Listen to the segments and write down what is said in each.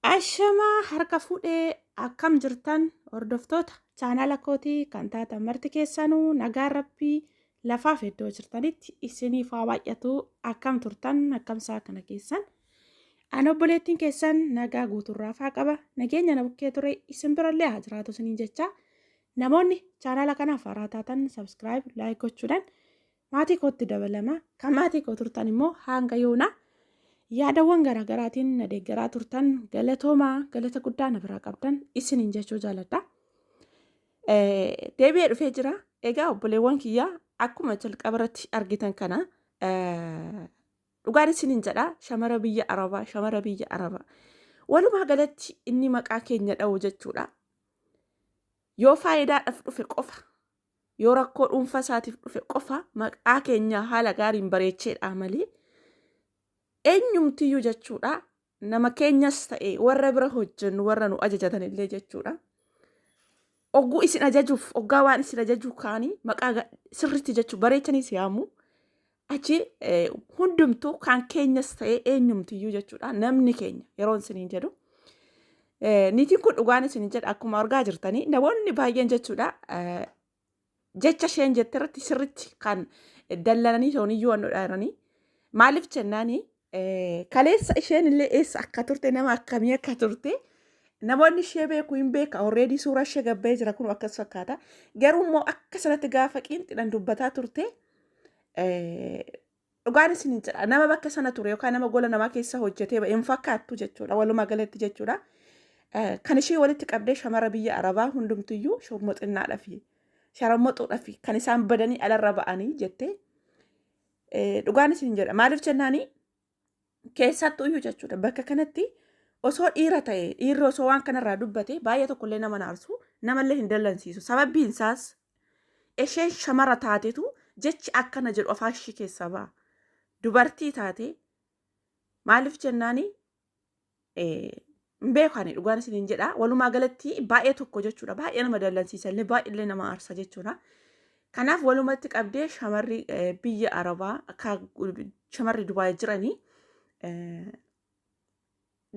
Ashamaa harka fuudhee akkam jirtan hordoftoota chaanaala kootii kan taatan marti keessanuu nagaa rabbii lafaaf iddoo jirtanitti isiniif haa baay'atu akkam turtan akkamsaa kana keessan an obboleettiin keessan nagaa guuturraa faa qaba nageenya na bukkee ture isin birallee haa jiraatu isiniin jecha namoonni chaanaala kanaaf haaraa taatan sabskiraayib laayik gochuudhaan maatii kootti dabalama. Kan maatii koo turtan immoo hanga yoona yaadawwan garaagaraatiin na deeggaraa turtan galatoomaa galata guddaa na biraa qabdan isiniin jechuu jaaladha. Deebi'ee dhufee jira. Egaa obboleewwan kiyyaa akkuma jalqaba irratti argitan kana dhugaan isiniin jedha shamara biyya arabaa shamara biyya arabaa walumaa galatti inni maqaa keenya dha'u jechuudha. Yoo faayidaadhaaf dhufe qofa yoo rakkoo dhuunfaa isaatiif dhufe qofa maqaa keenyaa haala gaariin bareecheedha malee eenyumtiyyuu jechuudha nama keenyas ta'e warra bira hojjennu warra nu ajajatan illee jechuudha. Ogguu isin ajajuuf oggaa waan isin ajajuu kaanii maqaa sirriitti jechuu bareechanii si yaamu Achi hundumtuu kan keenyas ta'ee eenyumtiyyuu jechuudha namni keenya yeroon isiniin jedhu. Niitiin kun dhugaan isiniin jedha akkuma argaa jirtanii namoonni baay'een jechuudha jecha isheen jette irratti sirritti kan dallananii ta'uniyyuu waan dhudhaaranii maaliif jennaanii Kaleessa isheen illee eessa akka turte nama akkamii akka turte namoonni ishee beeku hin beeka already suuraa ishee gabbee jira kun akkas fakkaata garuu immoo akka sanatti gaafa qiinxidhan dubbataa turte dhugaan isin hin jedha nama bakka sana ture yookaan nama gola namaa keessa hojjetee ba'e hin fakkaattu jechuudha walumaa galatti jechuudha kan ishee walitti qabdee shamara biyya arabaa hundumtiyyuu shormoxinnaadhafi sharammoxuudhafi kan isaan badanii alarra ba'anii jettee Eh, Dhugaan isin jedha. Maaliif jennaani keessattuu iyyuu jechuudha. Bakka kanatti osoo dhiira ta'e dhiirri osoo waan kanarraa dubbate baay'ee tokkollee nama naarsu namallee hin dallansiisu. Sababiin isaas isheen shamara taatetu jechi akkana jedhu afaan ishii keessaa ba'a. Dubartii taate maaliif jennaani hin beeku ani dhugaan isin hin jedha walumaa galatti baay'ee tokko jechuudha baay'ee nama dallansiisa illee baay'ee illee nama aarsa jechuudha. Kanaaf walumatti qabdee shamarri eh, biyya Arabaa akka shamarri Dubaay jiranii eh,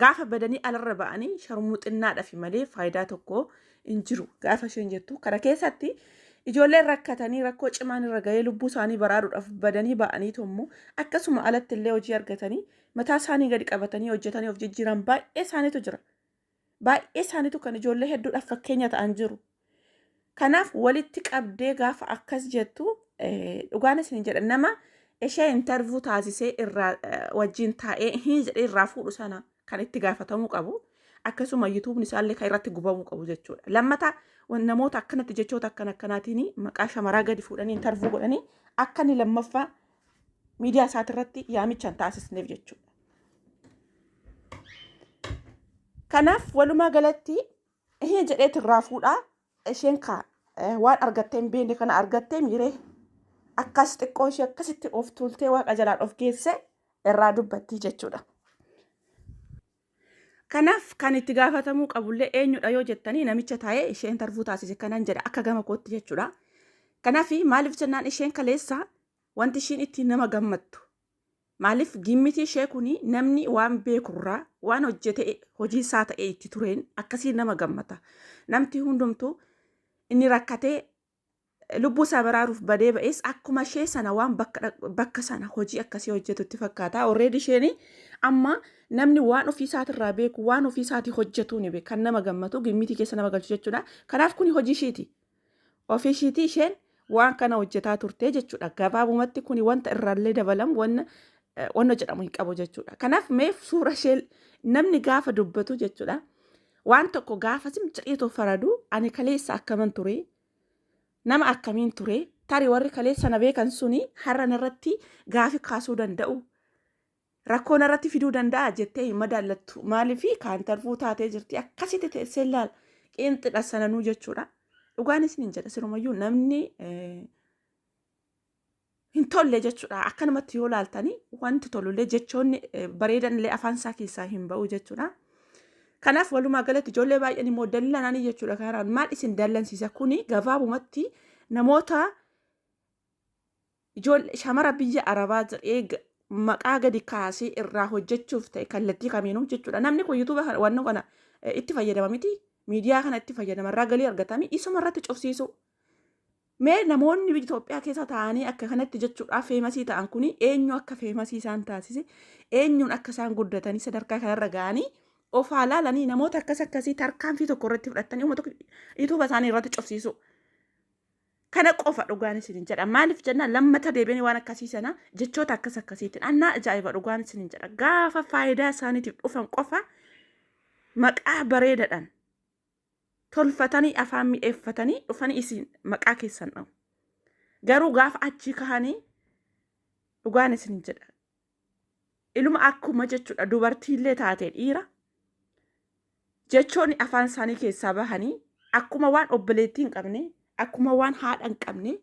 gaafa badanii alarra ba'anii sharmuxinnaadhafi malee faayidaa tokko hin jiru gaafa isheen jettu kana keessatti ijoolleen rakkatanii rakkoo cimaan irra ga'ee lubbuu isaanii baraaruudhaaf badanii ba'anii tommoo akkasuma alatti illee hojii argatanii mataa isaanii gadi qabatanii hojjetanii of jijjiiran baay'ee isaaniitu jira. Baay'ee isaaniitu kan ijoollee hedduudhaaf fakkeenya ta'an jiru. Kanaaf walitti qabdee gaafa akkas jettu dhugaan isin jedha nama ishee intarvuu taasisee irraa wajjin taa'ee hin jedhee irraa fuudhu sana kan itti gaafatamuu qabu. Akkasuma yuutuubni isaallee kan irratti gubamuu qabu jechuudha. Lammata namoota akkanatti jechoota akkan akkanaatiin maqaa shamaraa gadi fuudhanii intarvuu godhanii akka inni lammaffaa miidiyaa isaatirratti yaamicha hin taasisneef jechuudha. Kanaaf walumaa galatti ishee jedheetu irraa fuudhaa isheen kaa waan argattee hin beekne kana argattee miiree akkas xiqqoo ishee akkasitti of tuultee waaqa jalaan of geesse irraa dubbattii jechuudha. Kanaaf kan itti gaafatamuu qabullee eenyudha yoo jettanii namicha taa'ee ishee intarvuu taasise kanan jedha akka gama kootti jechuudha. Kanaaf maaliif jennaan isheen kaleessa wanti ishiin ittiin nama gammattu. Maaliif gimmitii ishee kun namni waan beekurraa waan hojjete hojii isaa ta'e itti tureen akkasiin nama gammata. Namti hundumtuu inni rakkatee Lubbuu isaa baraaruuf badee ba'es akkuma ishee sana waan bakka dhaq- bakka sana hojii akkasii hojjetutti fakkaata. Already isheen amma namni waan ofii isaatirraa beeku waan ofii isaatii hojjetuu ni beeka. Kan nama gammatu gimmitii keessa nama galchu jechuudha. Kanaaf kuni hojii ishiiti. Ofii ishiitii isheen waan kana hojjetaa turte jechuudha. Gabaabumatti kuni wanta irraallee dabalamu wanna eh, wanna jedhamu hin qabu jechuudha. Kanaaf mee suura ishee namni gaafa dubbatu jechuudha. Waan tokko gaafa zim jedheetoo faradu ani kaleessa akkaman ture nama akkamiin ture tari warri kaleessa na beekan suni har'a narratti gaafi kaasuu danda'u rakkoo narratti fiduu danda'a jettee hin madaallattu maaliif kaan tarfuu taatee jirti akkasitti teessee laal qeenxidha sananuu jechuudha. Dhugaan isiniin jedha sirumayyuu namni hin tolle jechuudha. Akkanumatti yoo laaltanii wanti tolullee jechoonni eh, bareedanillee afaan isaa keessaa hin ba'u jechuudha. Kanaaf walumaa galatti ijoollee baay'een immoo dallananii jechuudha kanaan maal isin dallansiisa kuni gabaabumatti namoota ijoollee shamara biyya arabaa jedhee ga- maqaa gadi kaasee irraa hojjechuuf ta'e kallattii kamiinuu jechuudha. Namni kun yuutuuba kana wanna kana eh, itti fayyadama miti miidiyaa kana itti fayyadama irraa galii argatami isuma irratti cufsiisuu. Mee namoonni biyya Itoophiyaa keessa taa'anii akka kanatti jechuudhaaf feemasii ta'an kuni eenyu akka feemasii isaan taasise eenyuun akka isaan guddatanii sadarkaa kanarra ga'anii of haa laalanii namoota akkas akkasii tarkaanfii tokko irratti fudhatanii uummata yuutuuba isaanii irratti cufsiisuu. Kana qofa dhugaan isinin jedha. Maaliif jennaan lammata deebiin waan akkasii sana jechoota akkas akkasiitiin annaa ajaa'iba dhugaan isinin jedha. Gaafa faayidaa isaaniitiif dhufan qofa maqaa bareedadhaan tolfatanii afaan mi'eeffatanii dhufanii isin maqaa keessan dha'u. Garuu gaafa achii kahanii dhugaan isin jedha. Iluma akkuma jechuudha dubartiillee taatee dhiira jechoonni afaan isaanii keessaa bahanii akkuma waan obboleettii hin qabne akkuma waan haadha hin qabne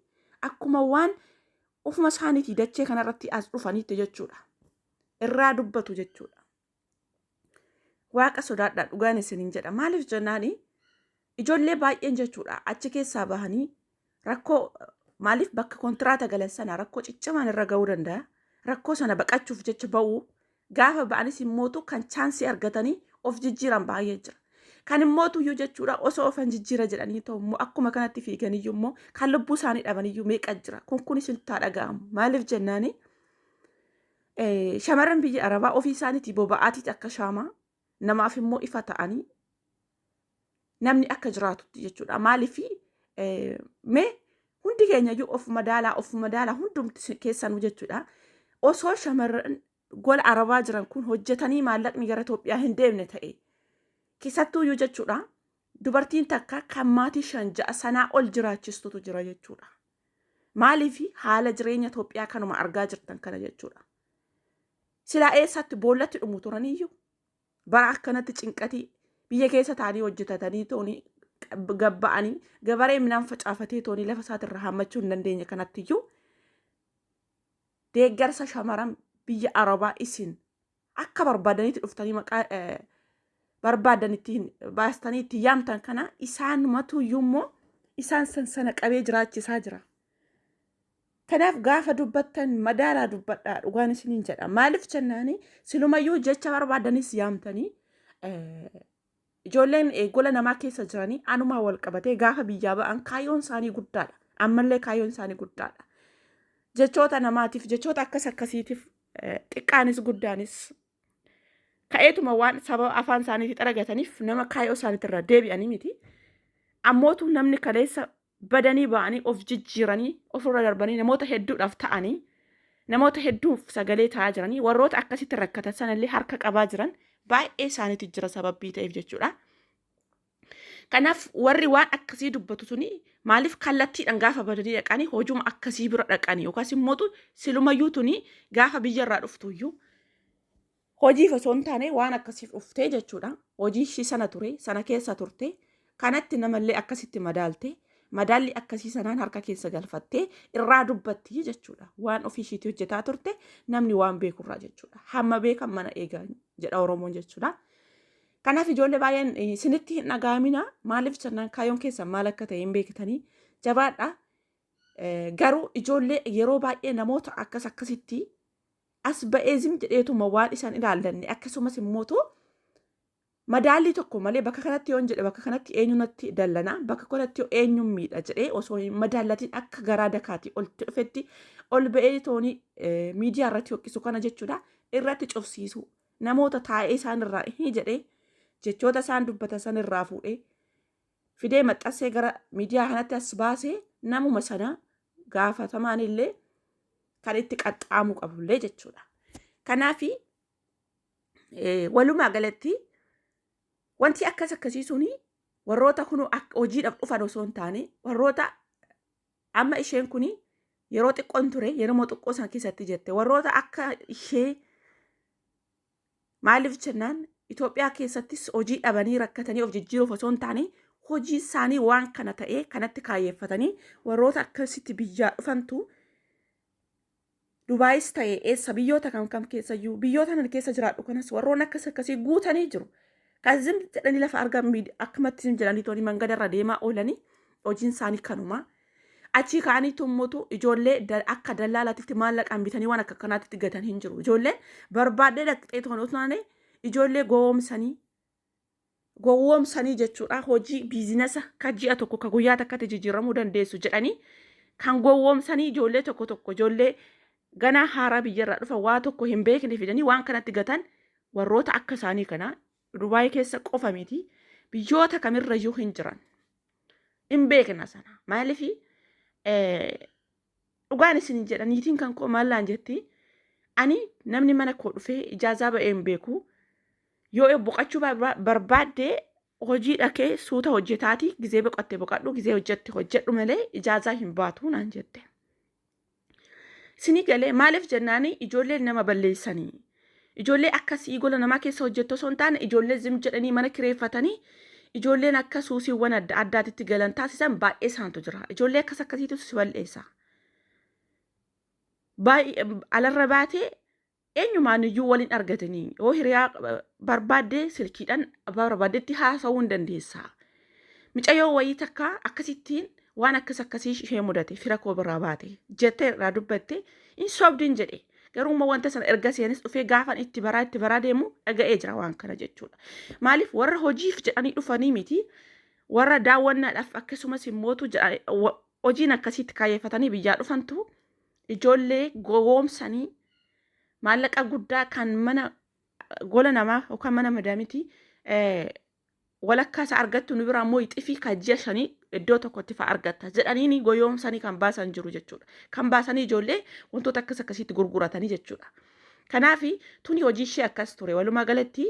akkuma waan ofuma isaaniitii dachee kanarratti as dhufaniitti jechuudha. Irraa dubbatu jechuudha. Waaqa sodaadhaa dhugaan isiniin jedha. Maaliif jennaani ijoollee baay'een jechuudha achi keessaa bahanii rakkoo maaliif bakka kontiraata galan sana rakkoo ciccimaan irra ga'uu danda'a. Rakkoo sana baqachuuf jecha ba'uu gaafa ba'anis immootu kan chaansii argatanii of jijjiiran baay'ee jira. Kan immootu iyyuu jechuudha osoo ofan jijjiira jedhanii ta'u immoo akkuma kanatti fiiganiyyuu immoo kan lubbuu isaanii dhabaniyyuu meeqa jira. Kun kunis hin taa dhaga'amu. Maaliif jennaani Eh, Shamarran biyya Arabaa ofii isaaniitii boba'aatiiti akka shaamaa namaaf immoo ifa ta'anii namni akka jiraatutti jechuudha. Maaliif eh, mee hundi keenya iyyuu of madaalaa of madaalaa hundumti si- keessanuu jechuudha. Osoo shamarran gola Arabaa jiran kun hojjetanii maallaqni gara Itoophiyaa hin deemne ta'e keessattuu iyyuu jechuudha. Dubartiin takka kan maatii shan ja'a sanaa ol jiraachistutu jira jechuudha. Maaliif haala jireenya Itoophiyaa kanuma argaa jirtan kana jechuudha. Silaa eessaatti boollatti dhumu turaniyyuu bara akkanatti cinqatii biyya keessa taanii hojjetatanii toonii gabba'anii gabaree midhaan facaafatee toonii lafa isaatirra hammachuu hin dandeenye kanattiyyuu deeggarsa shamaran biyya arabaa isin akka barbaadanitti dhuftanii maqaa barbaadan itti baastanii itti yaamtan kana isaanumatu iyyuu immoo isaan san sana qabee jiraachisaa jira. Kanaaf gaafa dubbattan madaalaa dubbadhaa dhugaan isiniin jedha. Maaliif jennaani silumayyuu jecha barbaadanis yaamtanii Ijoolleen gola namaa keessa jiranii anumaa wal qabatee gaafa biyyaa ba'an kaayyoon isaanii guddaadha. Ammallee kaayyoon isaanii guddaadha. Jechoota namaatiif, jechoota akkas akkasiitiif xiqqaanis guddaanis ka'eetuma waan sababa afaan isaaniitti xaragataniif nama kaayyoo isaaniitti irraa deebi'anii miti. Ammootu namni kaleessa badanii ba'anii of jijjiiranii ofirra darbanii namoota hedduudhaaf ta'anii namoota hedduuf sagalee ta'aa jiranii warroota akkasitti rakkatan sanallee harka qabaa jiran baay'ee isaaniitu jira sababbii ta'eef jechuudha. Kanaaf warri waan akkasii dubbatu suni maaliif kallattiidhaan gaafa badanii dhaqanii hojuma akkasii bira dhaqanii yookaas immoo silumayyuu tuni gaafa biyyarraa dhuftuyyuu Hojiif osoo hin taane waan akkasiif dhuftee jechuudha. Hojii ishii sana ture, sana keessa turte, kanatti namallee akkasitti madaalte, madaalli akkasii sanaan harka keessa galfattee irraa dubbatti jechuudha. Waan ofii ishiitii hojjetaa turte namni waan beekurraa jechuudha. Hamma beekan mana eegaa jedha Oromoon jechuudha. Kanaaf ijoollee baay'een isinitti hin dhagaamina. Maaliif jennaan kaayyoon keessan maal akka ta'e hin beektanii. Jabaadha. Garuu ijoollee yeroo baay'ee namoota akkas akkasitti as ba'ee zim jedheetuma waan isaan ilaallanne akkasumas immoo too madaallii tokko malee bakka kanatti yoon jedhe bakka kanatti eenyu natti dallana bakka kanatti yoo eenyuun miidha jedhee osoo hin madaallatiin akka garaa dakaatii oltti dhufetti ol ba'ee toonii miidiyaa irratti hoqisu kana jechuudha irratti cufsiisuu namoota taa'ee isaan irraa hin jedhee jechoota isaan dubbatan san irraa fuudhee fidee maxxansee gara miidiyaa kanatti as baasee namuma sana gaafatamaan illee kan itti qaxxaamuu qabullee jechuudha. Kanaaf walumaa galatti wanti akkas akkasii suni warroota kun hojiidhaaf dhufan osoo hin taane warroota amma isheen kun yeroo xiqqoon ture yeroo xiqqoo sana keessatti jette warroota akka ishee Maaliif jennaan Itoophiyaa keessattis hojii dhabanii rakkatanii of jijjiiruuf osoo hin taane hojii isaanii waan kana ta'ee kanatti kaayyeeffatanii warroota akkasitti biyyaa dhufantu Dubaayis ta'e eessa biyyoota kam kam keessayyuu biyyoota nan keessa jiraadhu kanas warroon akkas akkasii guutanii jiru. Kan zim jedhanii lafa argan miid- akkumatti zim jedhanii tooni mangadarra deemaa oolanii hojiin isaanii kanumaa. Achii ka'anii tummutu ijoollee da- akka dallaalaatitti maallaqaan bitanii waan akka kanaatitti gatan hin jiru. Ijoolleen barbaaddee dhaqxee toon otoo taane ijoollee gowwoomsanii gowwoomsanii jechuudha hojii biizinasa ka ji'a tokko ka guyyaa takkatti jijjiiramuu dandeessu jedhanii kan gowwoomsanii ijoollee tokko tokko ijoollee ganaa haaraa biyyarraa dhufan waa tokko hin beekne fidanii waan kanatti gatan warroota akka isaanii kana Dubaay keessa qofa miti biyyoota kamirrayyuu hin jiran. Hin beekna sana. Maaliif dhugaan isin jedha niitiin kan koo maallaan jetti ani namni mana koo dhufee ijaazaa ba'ee hin beeku. Yoo boqachuu barba- barbaadde hojii dhakee suuta hojjetaati gizee boqatte boqadhu gizee hojjette hojjedhu malee ijaazaa hin baatu naan jette. Isinii galee maaliif jennaani ijoolleen nama balleessanii ijoollee akkasii gola namaa keessa hojjettu osoo hin taane ijoollee zim jedhanii mana kireeffatanii ijoolleen akka suusiiwwan adda addaatitti galan taasisan baay'ee isaantu jira. Ijoollee akkas akkasiitu si bal'eessa. Baay'ee alarra baatee Eenyumaan iyyuu wal hin argatanii yoo hiriyaa barbaadde silkiidhaan barbaaddetti haasa'uu hin dandeessa. Micayyoo wayii takka akkasittiin waan akkas akkasii ishee mudate fira koo biraa baate jettee irraa dubbatte hin sobdin jedhe. Garuu immoo wanta sana erga seenis dhufee gaafan itti baraa itti baraa deemu dhaga'ee jira waan kana jechuudha. Maaliif warra hojiif jedhanii dhufanii miti warra daawwannaadhaaf akkasumas immootu hojiin akkasiitti kaayyeffatanii biyyaa dhufantu ijoollee gowwoomsanii maallaqa guddaa kan mana gola namaa yookaan mana madaamitii walakkaa isaa argattu nu biraa immoo ixifii kan ji'a shanii iddoo tokkotti fa'aa argatta jedhanii goyoomsanii kan baasan jiru jechuudha. Kan baasanii ijoollee wantoota akkas akkasiitti gurguratanii jechuudha. Kanaaf tuni hojii ishee akkas ture. Walumaa galatti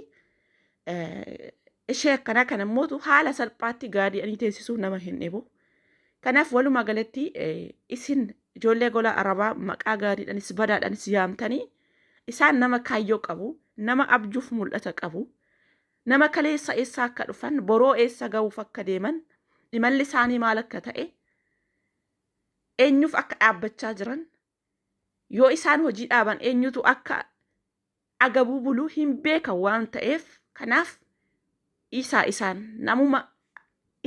ishee akkanaa kana mootu haala salphaatti gaadi'anii teessisuu nama hin dhibu. Kanaaf walumaa galatti isin ijoollee gola arabaa maqaa gaariidhanis badaadhanis yaamtanii isaan nama kaayyoo qabu, nama abjuuf mul'ata qabu, nama kaleessa eessaa akka dhufan, boroo eessa ga'uuf akka deeman, imalli isaanii maal akka ta'e, eenyuuf akka dhaabbachaa jiran, Yoo isaan hojii dhaaban eenyutu akka agabuu buluu hin beekan waan ta'eef kanaaf dhiisaa isaan namuma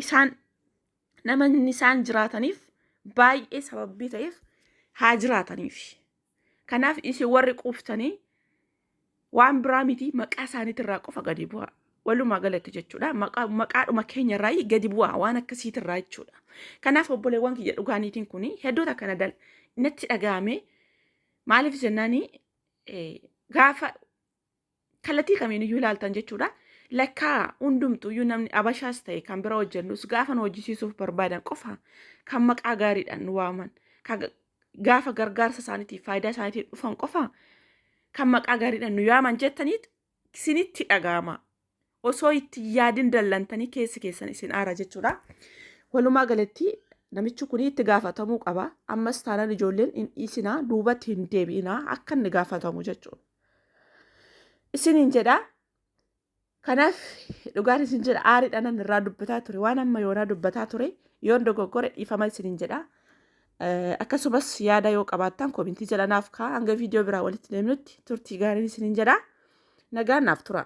isaan namanni isaan jiraataniif baay'ee sababbii ta'eef haa jiraataniif. Kanaaf isin warri quuftanii waan biraa miti maqaa isaaniitirraa qofa gadi bu'aa. Walumaa galatti jechuudha. Maqaa- Maqaadhuma keenyarraa gadi bu'aa waan akkasiitirraa jechuudha. Kanaaf obboleewwan kiyya dhugaa niitiin kun hedduuta kana dal natti dhaga'ame maaliif jennaani eh, gaafa kallattii kamiin iyyuu ilaaltan jechuudha. Lakkaa hundumtu iyyuu namni abashaas ta'e kan bira hojjennus gaafa nu hojjisiisuuf barbaadan qofa kan maqaa gaariidhaan nu waaman kan gaafa gargaarsa isaaniitiif faayidaa isaaniitiif dhufan qofa kan maqaa gaariidhaan nu yaaman jettanii isinitti dhaga'ama. Osoo itti hin yaadin dallantanii keessi keessan isin aara jechuudha. Walumaa galatti namichi kun itti gaafatamuu qaba. Ammas taanaan ijoolleen hin dhiisinaa duubatti hin deebi'inaa akka inni gaafatamu jechuudha. Isiniin jedhaa Kanaaf dhugaan isin jedha aariidhaan irraa dubbataa ture waan amma yoonaa dubbataa ture yoon dogoggore dhiifama isinin jedha. Akkasumas yaada yoo qabaattan komintii jala naaf kaa hanga viidiyoo biraa walitti deemnutti turtii gaariin isinin jedha. Nagaan naaf tura.